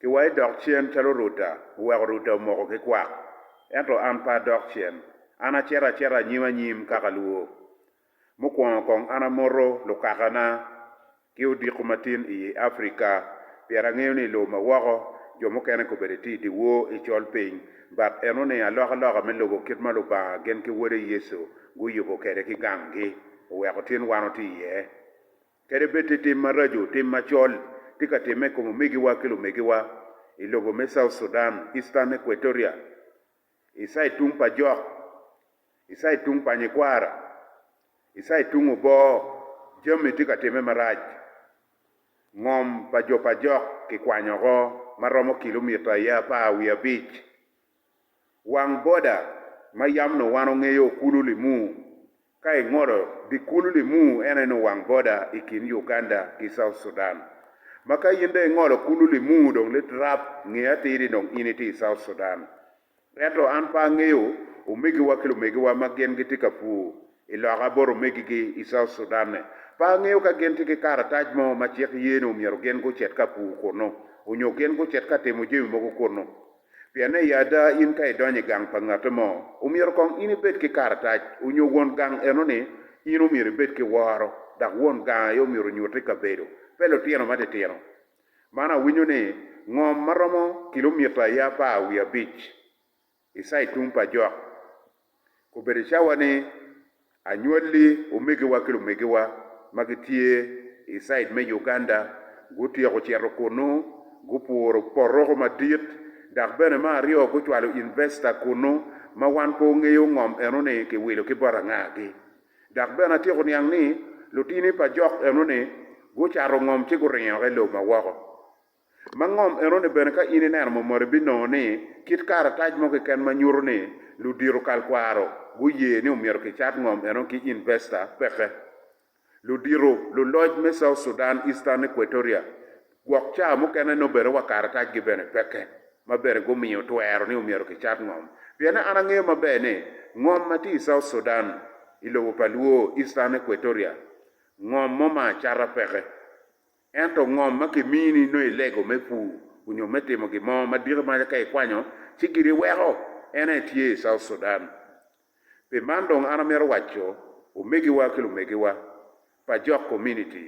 Ki wa idok cen calo Ruta oweko Ruta omoko ki kwak, ento an pe adok cen, an acito acita anyim anyim ka kalwo. Mukwongo kong an amoto lukakana ki odiko matin iyi Africa pien angeyo ni ilobo ma woko jo mukene kobedo itye idyewor icol piny but eno ni alok aloka me lubo kit ma Lubanga gin ki Wode Yecu guyubo kede ki gang gi oweko tin wan watye iye. Kadi bed ti tim maraco, tim macol tye ka timme i kom omegiwa ki lumegiwa i lobo me South Sudan, Eastern Equatoria, i cid tung pa jok, i cid tung pa nyikwara, i cid tung obo, jami tye ka timme marac. Ngom pa jo pa jok kikwanyo oko ma romo kilomita aye apar wiye abic. Wang boda ma yam nowano ngeyo kulu limu Ka i ngolo dye kulu limu en aye nongo wang boda i kin Uganda ki South Sudan. Ma ka in dong ingolo kulu limu dong lit rap nge atir ni dong in itye i South Sudan. Ento an pe angeyo omegiwa ki lumegiwa ma gin gitye ka pur i loka bot omegigi i South Sudan-ni. Pe angeyo ka gin tye ki karatac mo ma cik ye ni omyero gin gucit ka pur kunu onyo gin gucit ka timo jami mogo kunu. Pienne i ada in ka idonyo i gang pa ngatte mo, omyero kong in ibed ki karatac onyo won gang eno ni in omyero ibed ki woro dok won gang aye omyero onyutte i kabedo pe lutino matitino. Man awinyo ni ngom maromo kilomita aye apar wiye abic i side tung pa jok Kobedo cawa ni anywalli omegiwa ki lumegiwa ma gitye i cid me Uganda gutyeko cito kunnu, gupuro poroko madit, dok bene me aryo gucwalo investa kunnu ma wan pe ongeyo ngom enoni kiwilo ki bot angagi. Dok bene atyeko niang ni lutini pa jok enoni gucato ngom ci guringo ki lob ma woko. Ma ngom enoni bene ka in ineno mo mot ibinongo ni kit karatac mo keken ma nyuto ni ludito kal kwaro guye ni omyero kicat ngom eno ki investa peke. Ludito luloc me South Sudan Eastern Equatoria gwok ca mukene nongo bene wa karatac gi bene peke ma bene gumiyo twero ni omyero kicat ngom piene an angeyo maber ni ngom ma tye i South Sudan i lobo pa luo Eastern Equatoria ngom mo ma acata peke. Ento ngom ma kimini nongo i lego me pur onyo me timo gin mo ma diki maca ka ikwanyo ci gini weko en aye tye i South Sudan. Pi man dong an amito waco omegiwa ki lumegiwa pa jok kominiti,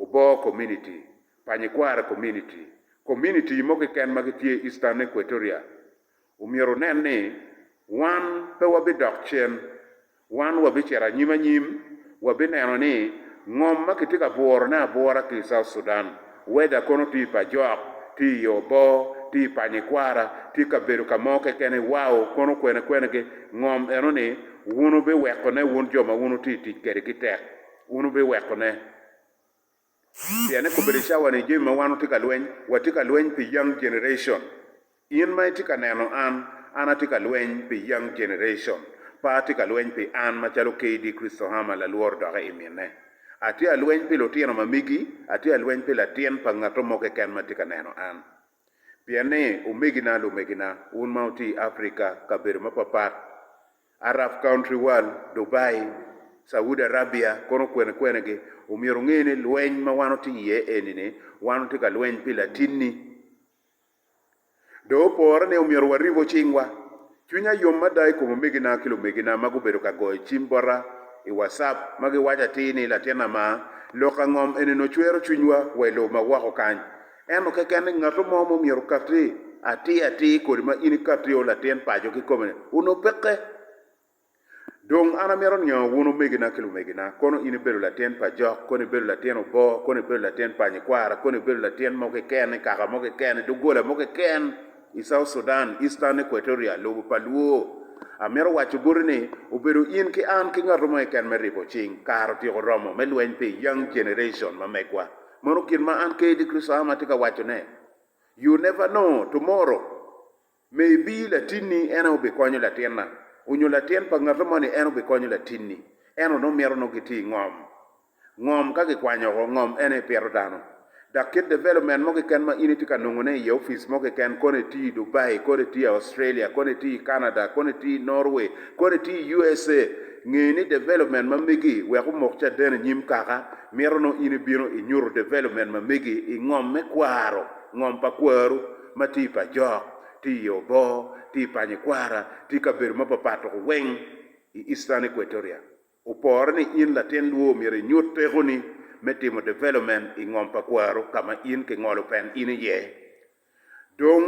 oboo kominiti, pa nyikware kominiti, kominiti mo kiken ma gitye Eastern Equatoria, Omyero wunen ni wan pe wabidok cen. Wan wabicito anyim anyim, wabineno ni ngom ma kitye ka bwurone abwura ki i South Sudan, weda kono tye i pajok, tye i oboo, tye i panyikwara, tye ka bedo ka mo kekeni, wow, kono kwene kwenigi, ngom eno-ni wun wubiwekone wun jo ma wun wutye i tic kedi ki tek. Wun wubiwekone. Pien ekobbe ni cawa ni jami ma wan watye ka lweny, watye ka lweny pi young generation. In ma itye ka neno an, an atye ka lweny pi young generation. Pe atye ka lweny pi an macalo KD Christohama lalworo doke i mine. Atye alweny pi lutino ma megi, atye alweny pi latin pa ngato mo keken ma tye ka neno an. Pien ni omegina lumegina, wun ma wutye i Africa, kabedo mapapat, Arab Country World, Dubai, Saudi Arabia kono kwene kwenegi, omyero onge ni lweny ma wan watye iye eni-ni, wan watye ka lweny pi latinni. Dong opore ni omyero waribu cingwa. Cwinya yom mada i kom omegina ki lumegina ma gubedo ka goyo cim bota i WhatsApp ma giwaco atir ni, Latinna ma, lok angom enini ocwero cwinywa wa i lobo ma woko kany. Ento keken ni ngatu mo ma omyero okatti atir atir kodi ma in ikatti o latin paco kikome-ni, onongo peke. Dong an amito niango wun omegina ki lumegina, kono in ibedo latin pa jok, kono ibedo latin obo, kono ibedo latin pa nyikwara, kono ibedo latin mo keken i kaka mo keken, i doggola mo keken i South Sudan, Eastern Equatoria, lobo pa Luo, amito waco boti ni obedo in ki an ki ngatu mo keken me ribo cing, kare otyeko romo me lweny pi Young Generation ma megwa. Mano gin ma an Kaylee Crisam atye ka wacone. You never know tomorrow maybe latinni en aye obikonyo latinna onyo latin pa ngati moni en obikonyo latinni. Ento nongo mito nongo gitye i ngom. Ngom ka kikwanyo oko, ngom en aye pito dano. Dok kit development mo keken ma in itye ka nongone i office mo keken, kono itye i Dubai, kono itye i Australia, kono itye i Canada, kono itye i Norway, kono itye i USA, nge ni development ma megi wek omok caden i nyim kaka, Mito nongo in ibino inyuto development ma megi i ngom me kwaro, ngom pa kwaru, ma tye i pajok, tye i obo, tye i panyikwara, tye i kabedo ma papat tuku weng i Eastern Equatoria. Opore ni in latin lwo omyero inyut tekoni me timo development i ngom pa kwaru ka ma in kingolo pen in iye. Dong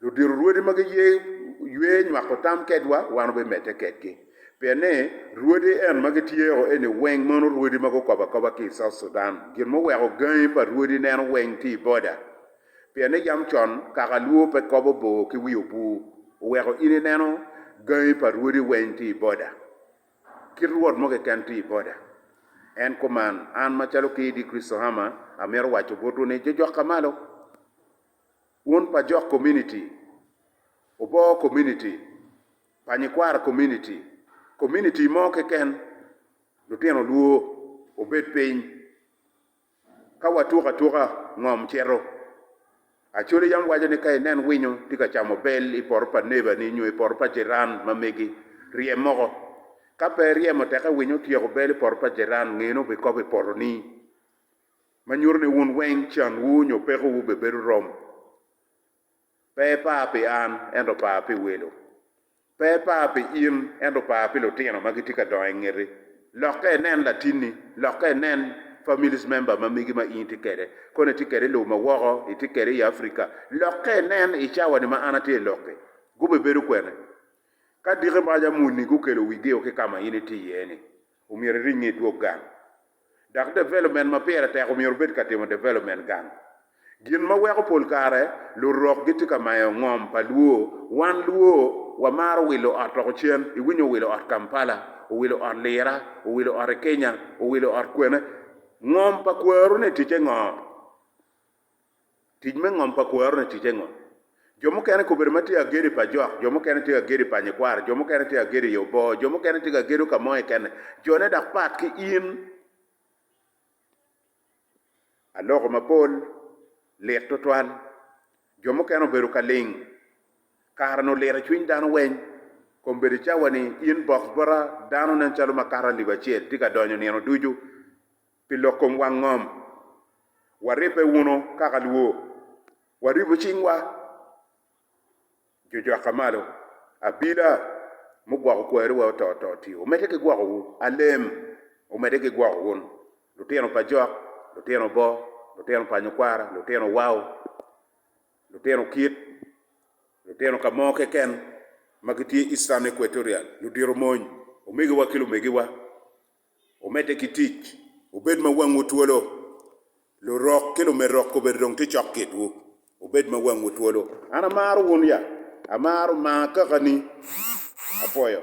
Ludiro rwodi ma giye ywe nywako tam kedwa, wan wubimedde kedgi. Pien ni, rwodi en ma gityeko eni weng mono rwodi ma gukobo akoba ki i South Sudan. Gin muweko gangi pa rwodi neno weng tye i boda. Pien ni yam con kaka Luo pe kobo bor ki wi obwur, oweko in ineno gangi pa rwodi weng tye i boda. Kit rwot mo keken tye i boda. En kuman, an macalo KD Kristohama, amito waco botwu ni, jojok ka malo. Wun pa Jok Community, Oboo Community, pa Nyikwaro Community, Community mo keken, lutino lwor wubed piny ka watuko atuka ngom cito. Acholi yam waco ni ka inen winyo tye ka camo bel i poto pa neba ni nyo i poto pa jiran ma megi, ryem oko. Ka pe iryemo teke winyo otyeko bel i poto pa jiran ngene obikobo i potoni. ma nyuto ni wun weng canwu nyo pekowu bebedo rom. Pe ipa pi an, ento pa pi welo. Pe ipa pi in, ento pa pi lutino ma gitye ka dongo i ngeti. Lok ka inen latinni. Lok ka inen families member ma megi ma in itye kwede. Kono itye kwede i lobo ma woko, itye kwede i Africa. Lok ka inen i cawa-ni ma an atye i lok-ki. Gubibedo kwene? Ka diki mac amuni gukelo wigio ki ka ma in itye iye-ni, Omyero iring nge dwog gang. Dok development ma pire tek omyero obed ka timo development gang. Gin ma weko pol kare lurok gitye ka mayo ngom pa Luo, wan Luo wamaro wilo ot loko cen, iwinyo owilo ot Kampala, owilo ot Lira, owilo ot i Kenya, owilo ot kwene. Ngom pa kweru ni ticce ngo? Tic me ngom pa kwaro-ni ticce ngo? Jo mukene kobedo ma tye ka gedo i pa jok, jo mukene tye ka gedo i pa nyikwaro, jo mukene tye ka gedo i obo, jo mukene tye ka gedo ka mo kekene. Jone dok pat ki in. Aloko mapol lit twatwal. Jo mukene obedo ka ling. Kare-ni oliro i cwiny dano weny. Kombedo i cawa-ni, in box bota, dano nen calo makato alip acel tye ka donyo nino ducu. Pi lok kom wang ngom, waribbe wunu kaka luwo, Waribu cingwa, Jujwaka malo, Abila, mugwoko kweru wa oto oto tio, omedde ki gwoko wu, Alem, omedde ki gwoko wun, Lutino pa jok, lutino bo, lutino pa nyokwara, lutino wau, lutino kit, lutino ka mo keken ma gitye Eastern Equatorial, ludito mony, omegiwa ki lumegiwa, Omedde ki tic, wubed ma wangwu twolo. Lurok ki lumerok kobedo dong tye cok kitwu. Wubed ma wangwu twolo. An amaro wun ya? Amaro, maa kaka ni. Apwoyo.